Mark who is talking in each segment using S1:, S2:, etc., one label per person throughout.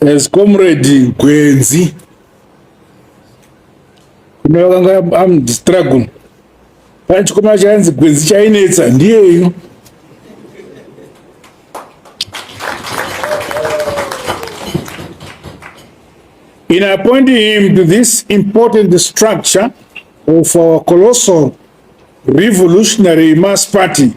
S1: As comrade Gwenzi, kune vakanga am struggle pane chikomana chainzi Gwenzi chainetsa ndiyeyo in appointing him to this important structure of our colossal revolutionary mass party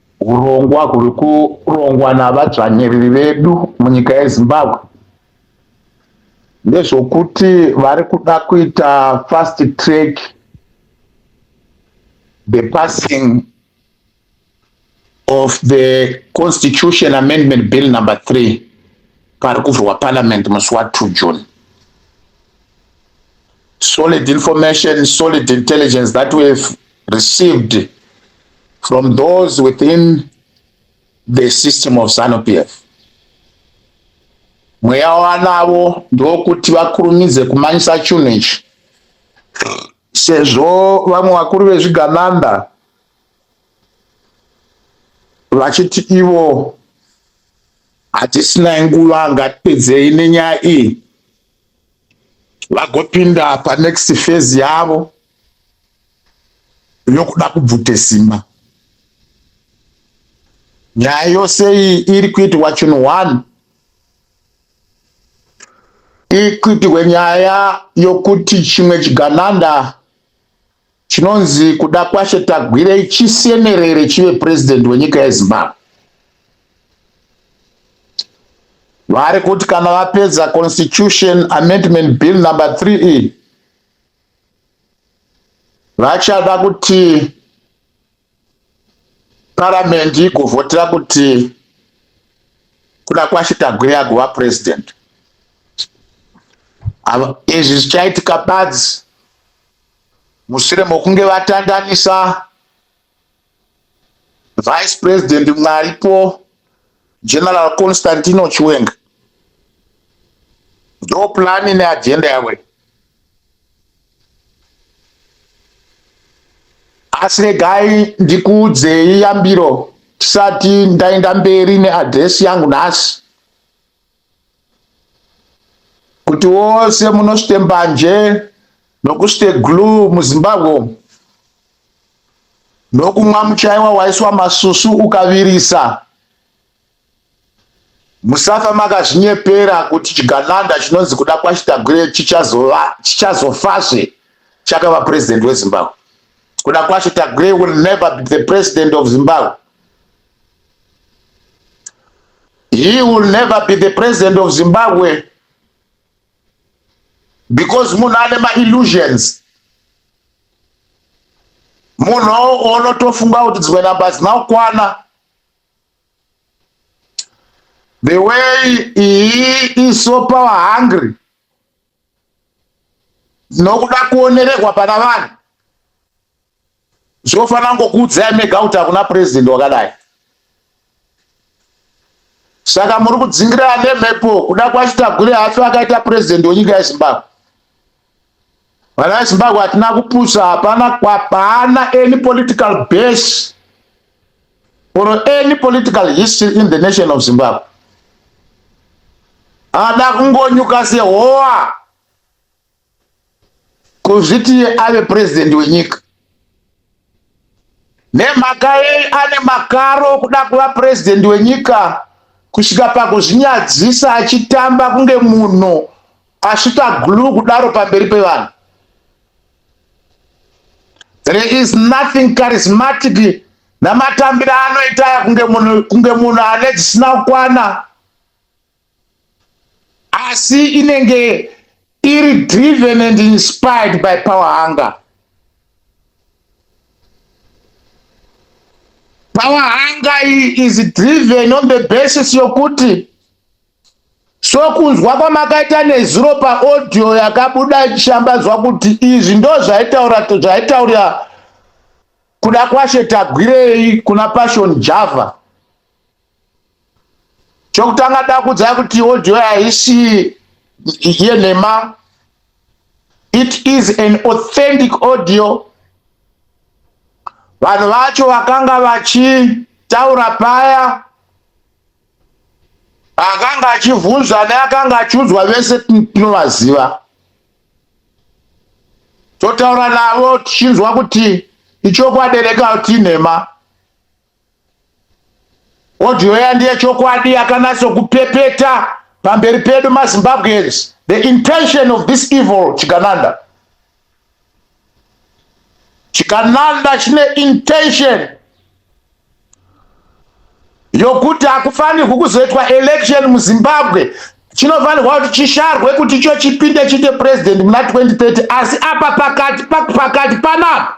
S2: Hurongwa
S3: huri kurongwa navadzvanyiriri vedu munyika yeZimbabwe ndezvokuti vari kuda kuita fast track the passing of the constitution amendment bill number three pari kuvhurwa parliament musi wa two june solid information solid intelligence that we've received from those within the system of Zanu PF. Mweya wanavo ndokuti vakurumidze kumanyisa chinhu ichi sezvo vamwe vakuru vezvigananda vachiti ivo hatisina nguva ngatipedzei nenyaya iyi vagopinda panext phase yavo yokuda kubvute simba nyaya yose iyi iri kuitirwa chinhu one iri kuitirwe nyaya yokuti chimwe chigananda chinonzi kuda kwashe tagwirei chisenerere chive purezidenti wenyika yezimbabwe vari kuti kana vapedza constitution amendment bill number 3 iyi vachada kuti paramendi igovhotera kuti kuda kwachitagwira kuva president izvi zvichaitika badzi mushure mokunge vatandanisa Vice President mwaripo General Constantino Chiwenga ndo plani neagenda yavo asi regai ndikuudzei yambiro tisati ndaenda mberi neadresi yangu nhasi kuti wose munosvite mbanje nokusvite glu muzimbabwe nokumwa muchaiwa waiswa masusu ukavirisa musafa makazvinyepera kuti chigananda chinonzi kuda kwachitagwire chichazofazve chakava president wezimbabwe kuda kwacho tagwire will never be the president of zimbabwe He will never be the president of Zimbabwe because munhu ane maillusions munhu onotofunga kuti dzimwe namba hadzina kukwana the way he is so power hungry nokuda kuonererwa pana vanhu Zvinofanira ngokuudzai mega kuti hakuna president wakadai. Saka muri kudzingira ane mhepo kuda kwacho tagwire hafi akaita president wenyika yeZimbabwe. Vana veZimbabwe hatina kupusa hapana kwapana any political base or any political history in the nation of Zimbabwe. Ada kungonyuka sehowa. kuzviti iye ave purezidhendi wenyika nemhaka yei ane makaro okuda kuva purezidhendi wenyika kusvika pakuzvinyadzisa achitamba kunge munhu asvita glue kudaro pamberi pevanhu there is nothing charismatic namatambiro anoita aya kunge munhu ane dzisina kukwana asi inenge iri driven and inspired by power hunger power hunger iyi is driven on the basis yokuti sokunzwa kwamakaita nezuro paaudio yakabuda ichishambadzwa kuti izvi ndo zvaitaura zvaitaurira kuda kwashe tagwirei kuna passion java chokutanga dakudza kuti audio haisi yenhema it is an authentic audio vanhu vacho vakanga vachitaura paya akanga achivhunzwa neakanga achiudzwa vese tinovaziva totaura navo tichinzwa kuti ichokwadi reka kuti inhema Audio iya ndiye chokwadi yakanatso kupepeta pamberi pedu maZimbabweans the intention of this evil Chigananda. Chigananda chine intention yokuti hakufanirwi kuzoitwa election muZimbabwe chinofanirwa kuti chisharwe kuti icho chipinde chite president muna 2030 asi apa pakati pakati panapa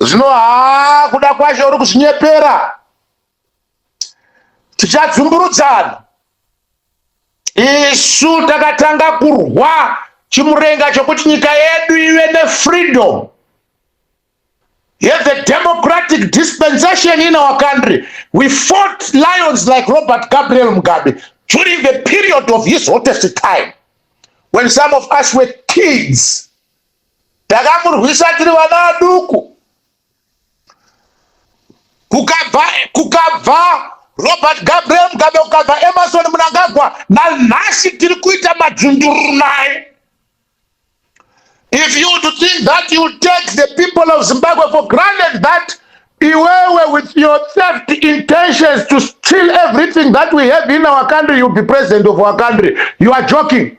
S3: zvino haa kuda kwacho uri kuzvinyepera tichadzumburudzana isu takatanga kurwa chimurenga chokuti nyika yedu ive nefreedom yeve democratic dispensation in our country we fought lions like robert gabriel mugabe during the period of his hottest time when some of us were kids takamurwisa tiri vana vaduku kukabva kukabva robert gabriel mugabe kukabva emerson munangagwa nanhasi tiri kuita madzundururu naye if you to think that you take the people of zimbabwe for granted that iwewe with your theft intentions to steal everything that we have in our country you be president of our country you are joking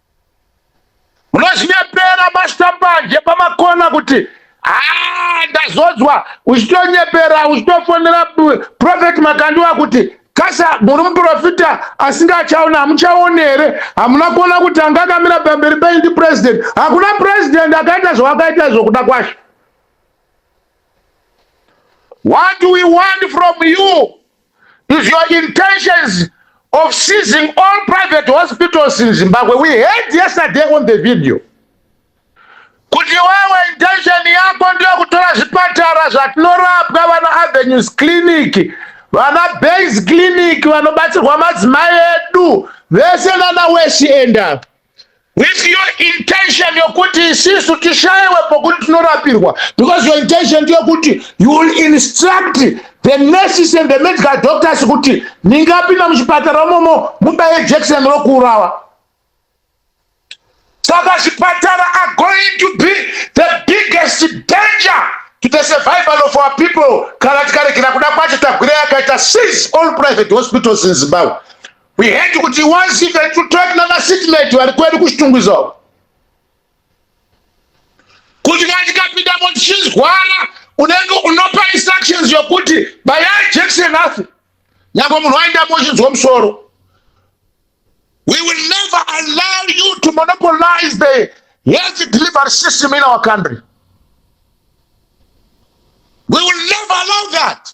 S3: Munozvinyepera mashambanje pamakona kuti haa ndazodzwa uchitonyepera uchitofonera Prophet Makandiwa kuti kasa muri muprofita asinga achaona hamuchaone here hamuna kuona kuti anga akamira pamberi penyu ndi president hakuna president akaita zvawakaita izvo kuda kwashe what do we want from you is your intentions of seizing all private hospitals in Zimbabwe. We heard yesterday on the video kuti wewe intention yako ndiyo kutora zvipatara zvatinorapwa vana Avenues Clinic, vana Base Clinic vanobatsirwa madzimai edu vese nana Weshi enda With your intention yokuti isisu tishaiwe pokuti tinorapirwa because your intention ndeyokuti you will instruct the nurses and the medical doctors kuti ningapinda muchipatara momo mubaye jection rokuurawa saka zvipatara are going to be the biggest danger to the survival of our people kana tikaregera kuda kwacho tagwira yakaita seize all private hospitals in zimbabwe We had to kuti once even to talk na seatmate vari kwedu kuchitungwiza uko. Kuti kana tikapinda mo tichizwara unenge unopa instructions yokuti baya Jackson afi. Nyangwe munhu aenda mochinzwa musoro. We will never allow you to monopolize the health delivery system in our country. We will never allow that.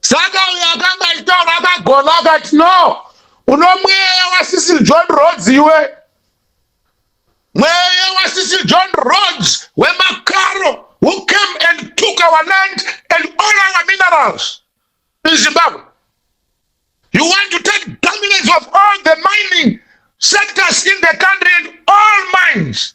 S3: saka uyo akanga achitaura akagona akati no uno mweya wasisi john rods iwe mweya wasisi john rods wemakaro who came and took our land and all our minerals in zimbabwe you want to take dominance of all the mining sectors in the country and all mines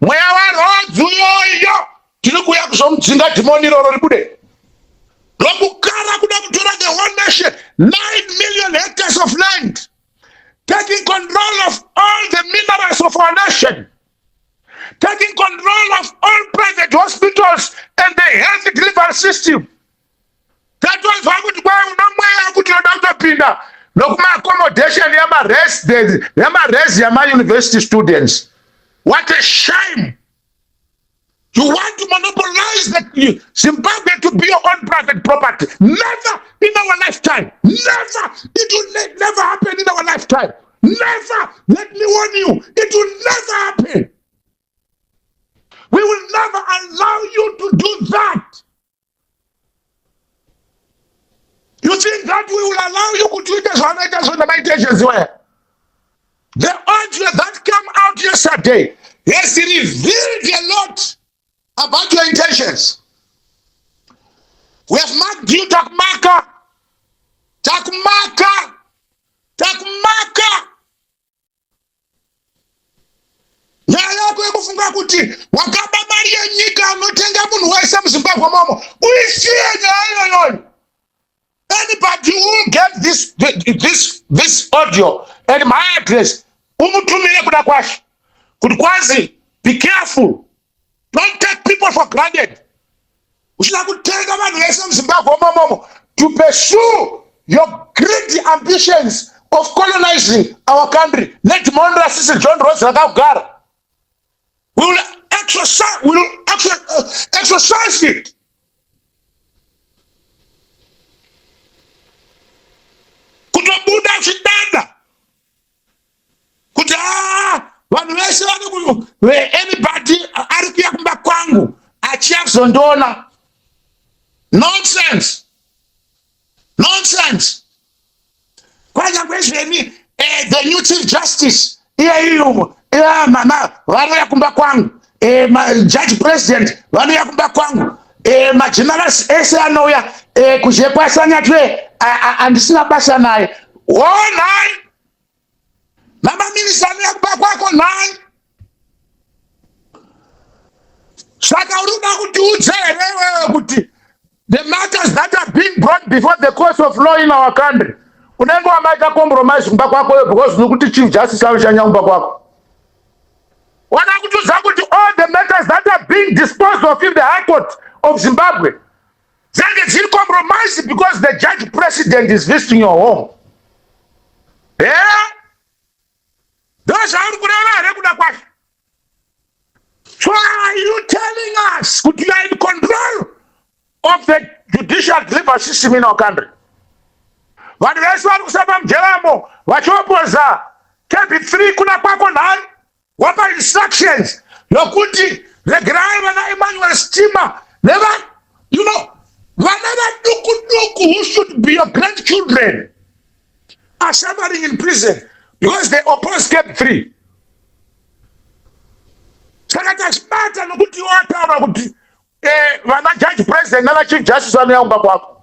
S3: mweya warhodzi uyoyo tiri kuuya kuzomudzinga dhimoni iroro ribude lokukara kuda kutora the whole nation 9 million hectares of land taking control of all the minerals of our nation taking control of all private hospitals and the health delivery system tatonzwa kuti kwai unomweya kuti unoda kutopinda nokumaaccommodation yamaresi yamauniversity students what a shame you want to monopolize the zimbabwe to be your own private property never in our lifetime never it will never happen in our lifetime never let me warn you it will never happen we will never allow you to do that You think that we will allow you kuti uite zvavanoita zvona maita ezveziwaya? The audio that came out yesterday has revealed a lot about your intentions. We have marked you takumaka, takumaka, takumaka. nyaya yako yekufunga kuti wakaba mari yenyika unotenga munhu wese muzimbabwe momo uisiye nyaya iyoyoyo anybody who get this, this, this audio and my address umutumire kuda kwashe kuti kwazi be careful don't take people for granted uchida kutenga vanhu vese muzimbabwe momomo to pursue your greedy ambitions of colonizing our country nedimondo rasisi john rose rakagara we will exercise, we will uh, exercise it kutobuda chidada kuti ah, vanhu vese vanoanybody ari kuya kumba kwangu achiya kuzondiona nonsense nonsense kwanyangwe zveni eh, the new chief justice iyaiyo iya mama vanouya kumba kwangu eh, judge president vanouya kumba kwangu eh, magenerals ese anouya eh, kuzhekwasanyatwe andisina basa naye wonai namaminista anoya kuba kwako nhai saka uri kuda kuti udze here iwewe kuti the matters that are being brought before the course of law in our country unenge wamaita compromise kumba kwako yo because nokuti chief justice anoshanya kumba kwako wana kutiudza kuti all the matters that are being disposed of in the high court of zimbabwe dzange dziri compromise because the judge president is visiting your home ndozvauri kureva here kuda kwazvo so are you telling us kuti you are in control of the judicial delivery system in our country vanhu vese vari kusamba mujeramo vachiopoza kb3 kuna kwako nhari wapa instructions yokuti regerai vana Emmanuel Stima neva you know vana vaduku duku who should be your grandchildren are suffering in prison because they oppose step three saka tazvibata nokuti iwo ataura kuti eh, vana judge president navachief justice vanoyaumba kwako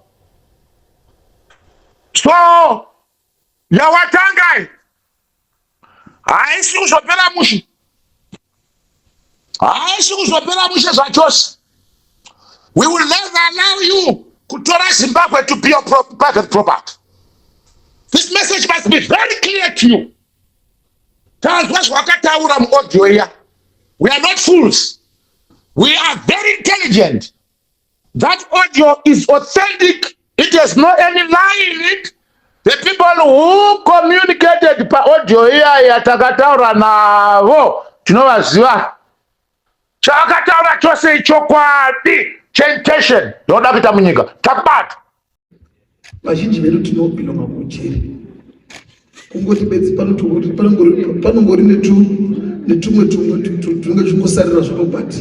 S3: so yawatangai haisi kuzopera mushe haisi kuzopera mushe zvachose we will never allow you kutora zimbabwe to be your pro private property this message must be very clear to you tanzwa zvawakataura muaudio iya we are not fools we are very intelligent That audio is authentic. It has no any lie in it. The people who communicated pa audio iyaya takataura navo tinovaziva. Chaakataura chose ichokwadi. Chantation yoda kuita munyika. Takubata.
S4: vazhinji vedu tinopinda makujeri kungoti bedzi panongori netumwe tumwe tunenge tuchingosarira zvako but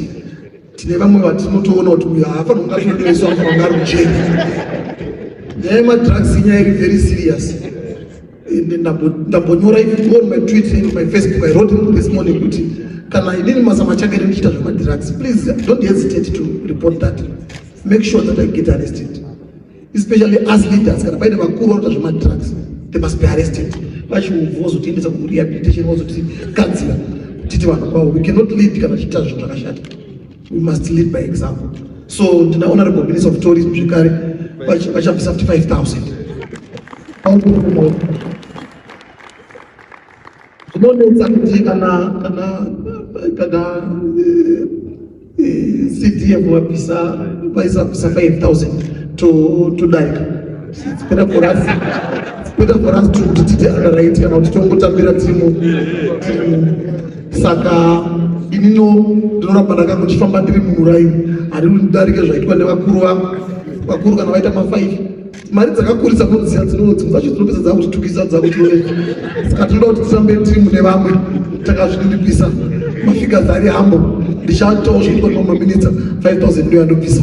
S4: tine vamwe vatinotoona kuti uyo haafanira kunge atondoiswa afanira kunge rujeri nyaya yemadrugs inyaya iri very serious ndambonyora even on my twitter and my facebook i wrote this morning kuti kana inini mazama chake ndichiita zvemadrugs please don't hesitate to report that make sure that i get arrested especially as leaders kana paine vakuru vanoita zvemadrugs they must be arrested vachiubva vozotiendesa kurehabilitation vozotigadzira titi vanhu kwavo we cannot lead kana tichiita zvinhu zvakashata we must lead by example so ndina honorable minister of tourism zvekare vachabvisa futi 5000 zvinonetsa kuti kana kana kana eh, eh, cdf wabvisa vaisa bvisa 5000 to to darika it's better for us it's better for us to kuti titi underwrite kana kuti tongotambira timu saka inino ndinoramba ndanga kuchifamba ndiri mumuraini hari ndarike zvaitwa nevakuru vangu vakuru kana vaita mafive mari dzakakurisa kuziva dzinowo dzimwe dzacho dzinopedza dzakuchitukisa dzakuchioreka saka tinoda kuti tirambe timu nevamwe takazviriripisa mafigas ari hambo ndichatoa zvinhu kwemaminitsa 5000 ndoyandobvisa